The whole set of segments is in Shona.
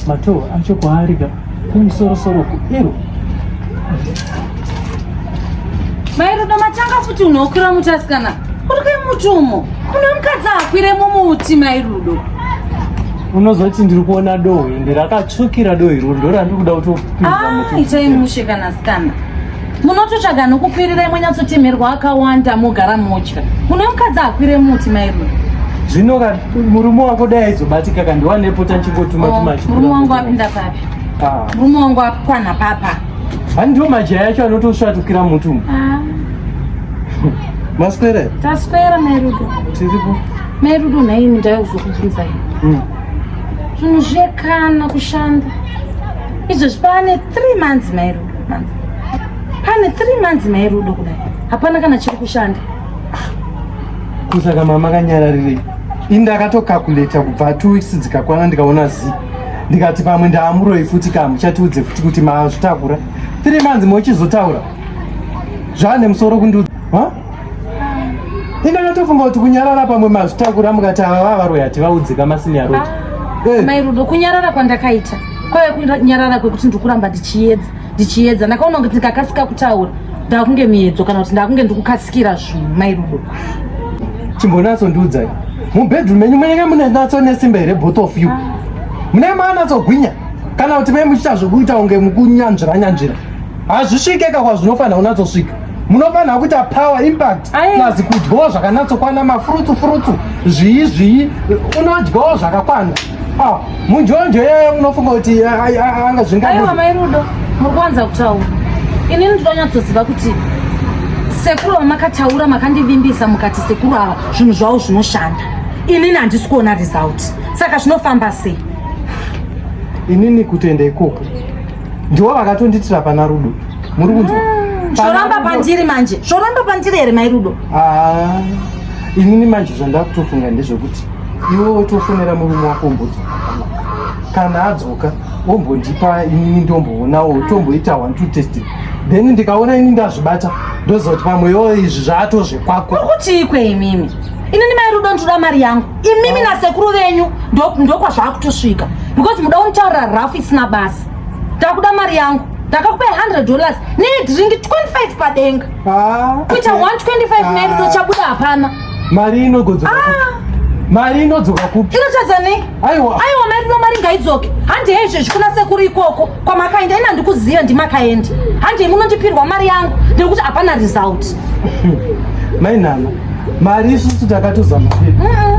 Mato acho kwaari ka kumusoro soro ku iro. Mai Rudo matanga futi unokwira muti asikana. Uri kai muti umo? Mune mukadzi akwire mumuti mai Rudo. Unozoti ndiri kuona dohwe ende rakatsvukira dohwe iro ndorandiri kuda kutopinza muti. Ah, itai mushe kana asikana. munototsvaga nokukwirira imwe nyatsotemerwa akawanda mogara motya kuno mukadzi akwire muti mairume zvino ka murume wako dai aizobatika ka ndiwanepo tachingotuma oh, murume wangu apinda papi ah. murume wangu akwana papa hani ndiwo majaya yacho anotosvatukira mutu ah. maswera taswera mairudo tiripo mairudo nhaini ndaikuzokubvunzai hmm. zvinhu zvekana kushanda izvo zvipava ne three months mairudo pane 3 months mai rudo kudai hapana kana chiri kushanda kusaka mama kanyararirei ini ndakatokakuleta kubva two weeks dzikakwana ndikaona zi ndikati pamwe ndaamuroi futi ka muchatiudze futi kuti mazvitakura three months mochizotaura zvaane musoro kundiudza Ine natofunga kuti kunyarara pamwe mazvitakura mukati ava vava varoya hati vaudzika masini ya Rudo. Ah, eh. Mai Rudo kunyarara kwandakaita kwave kunyarara kwekuti ndikuramba ndichiedza ndichiedza ndakaona kuti ndikakasika kutaura ndakunge miedzo kana kuti ndakunge ndikukasikira zvinhu mai Rudo. Chimbonatso ndiudzai mubedroom menyu munenge mune natso nesimba here both of you ah. munenge maanatsogwinya kana kuti mai muchiita zvekuita kunge mukunyanzvira nyanzvira hazvisvike ka kwazvinofanira kunatsosvika munofanira kuita power impact plus kudyawo zvakanatsokwana mafurutsu furutsu zvii zvii unodyawo zvakakwana ah, munjonjo yeye unofunga kuti anga zvingaaiwa mai rudo muri kuwanza kutaura inini ndinonyatsoziva kuti sekuru vamakataura makandivimbisa mukati sekuru ava zvinhu zvavo zvinoshanda inini handisi kuona result saka zvinofamba sei inini kutenda ikoko ndiwo vakatonditira pana rudo muri kunzwa ah, zvoramba pandiri manje zvoramba pandiri here mai rudo ah, inini manje zvandakutofunga ndezvekuti iwe wotofonera murume wako mbudzi kana adzoka wombondipa inini ndomboonawo tomboita one two test then ndikaona ini ndazvibata ndozoti pamwe yo izvi zvaatozvekwako ukuti ikwe imimi inini mai rudo ndoda mari yangu imimi nasekuru venyu ndokwazvava kutosvika because muda unitaurira rafu isina basa takuda mari yangu ndakakupai 100 dollars nedringi 25 padenga ah, kuita 125 mairudo ah. chabuda hapana mari inogodzoka ah. mari inodzoka kupi inotadza nei aiwa mairudo mari ngaidzoke handi hezvezvi kuna sekuru ikoko kwamakaenda ina ndikuziva ndimakaendi handei munondipirwa mari yangu nekuti hapana result mainama mari isusu takatozama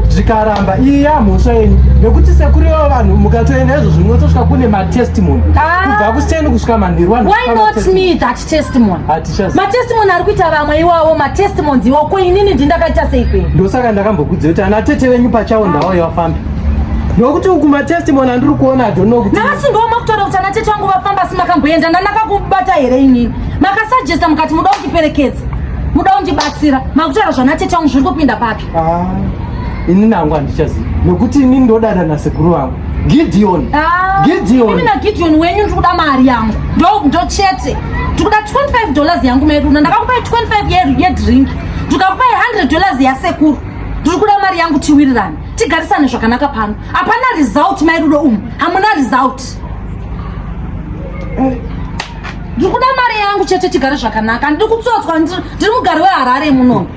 zvikaramba iya mhosva yenyu nekuti sekuriwo vanhu mukatoenda izvo zvinotosvika kune matestimony ah. kubva kuseni kusvika manhirwanhu testimony hatichas matestimony ari kuita vamwe iwawo matestimonies iwawo ko inini ndindakaita sei kwenyu ndosaka ndakambokudzia kuti ana tete venyu pachawo ndawo yavafambi nokuti uku matestimony andiri kuona adono kuti navasingawo makutora kuti ana tete vangu vafamba asi makamboenda ndanakakubata here inini makasajesta mukati muda kundiperekedza muda kundibatsira makutora zvana tete vangu zviri kupinda papi Ah, ini nangu handichazivi nokuti ini ndodada nasekuru vangu Gideon. Ah, Gideon. Mimi na Gideon wenyu ndiri kuda mari yangu. Ndo ndo chete. Tikuda 25 dollars yangu medu na ndakakupa 25 yeru ye drink. Tukakupa 100 dollars ya sekuru. Tiri kuda mari yangu tiwirirane. Tigarisane zvakanaka pano. Hapana result mai rudo umu. Hamuna result. Eh. Ndiri kuda mari yangu chete tigare zvakanaka. Ndiri kutsotswa ndiri mugari weHarare munomu.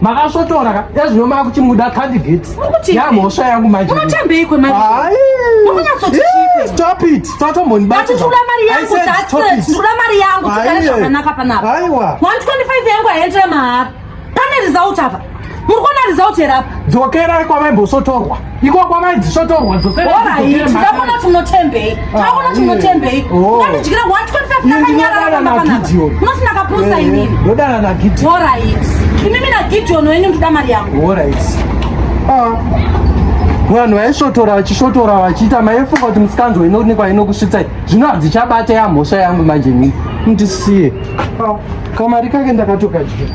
makasvotora ka ezvino makuchimuda candidate yamhosva yangu manjeunotambeyikwe stop it satombonibati ndikuda mari yangu that's it ndikuda mari yangu tigare zvakanaka panapa aiwa 125 yangu haiendere mahara pane result apa muri kuona result here apa dzokerai kwavaimbosotorwa ikoko vaidzisvotorwa dzoseaona tinotembei taona tinotembei ungandidyira 125ndakanyaraaunoti ndakapusa inini ndodana nagideon orit imimi nagideon wenyu ndida mari yangu orit vanhu vaisvotora vachisvotora vachiita maifunga kuti musikanzwa inoonekwa inokusvitsai zvino hadzichabate yamhosva yangu manje nini ndisiye kamari kake ndakatokadyira